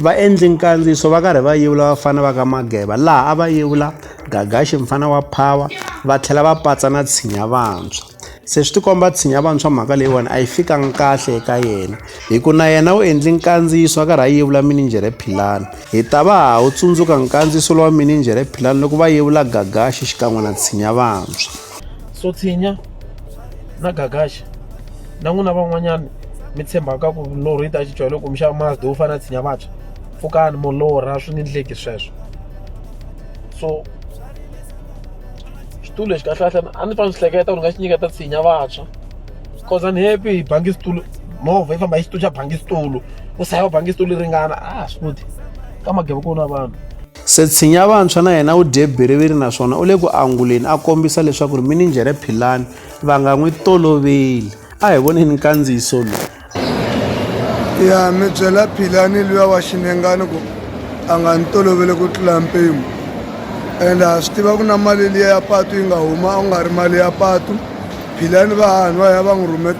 Vaendli nkandziyiso va karhi va yevula vafana va ka Mageba laha a va yevula Gagaxi mfana wa Phawa va tlhela va patsa na Tshinya Vantshwa. Se swi tikomba Tshinya Vantshwa mhaka leyiwani a yi fikanga kahle eka yena hi ku na yena u endli nkandziyiso a karhi a yevula Minijhere Philani. Hi ta va ha wu tsundzuka nkandziyiso lowa Minijhere Philani loko va yevula Gagaxi xikan'we na Tshinya Vantshwa. sotshinya na gagaxa na n'wina van'wanyana mi tshembaka ku milorho yi ta cinciwa loko mi xava mazda wo fana na tshinya vantshwa pfukani molorha swi nge ndleki sweswo so xitulu lexi kahlekahle a ni fanele swi hleketa ku ni nga xi nyiketa tshinya vantshwa cause I'm happy hi bangi xitulu movha yi famba hi xitulu xa bangi xitulu ku sahaya bangi xitulu yi ringana a swi koti ka mageva ku na vanhu Se Tshinya Vantshwa na yena u dye biriviri naswona u le ku anguleni a kombisa leswaku minijhere Philani va nga n'wi toloveli. A hi voneni nkandziyiso lowu. Ya mi byela Philani luya wa xinengani ku a nga ni toloveli ku tlula mpimo ende ha swi tiva ku na mali liya ya patu yi nga huma a ku nga ri mali ya patu Philani va hahani va ya va n'wi rhume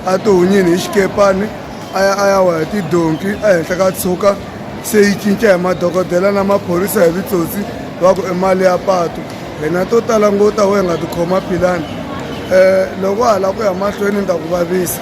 a tihunyini hi xikepani a ya a ya wa hi tidonki ehenhla ka tshuka se yi cinca hi madokodela na maphorisa hi vitsotsi va ku i mali ya patu hina to tala ngo ta we nga tikhoma philani um loko hala ku ya mahlweni ni ta ku vavisa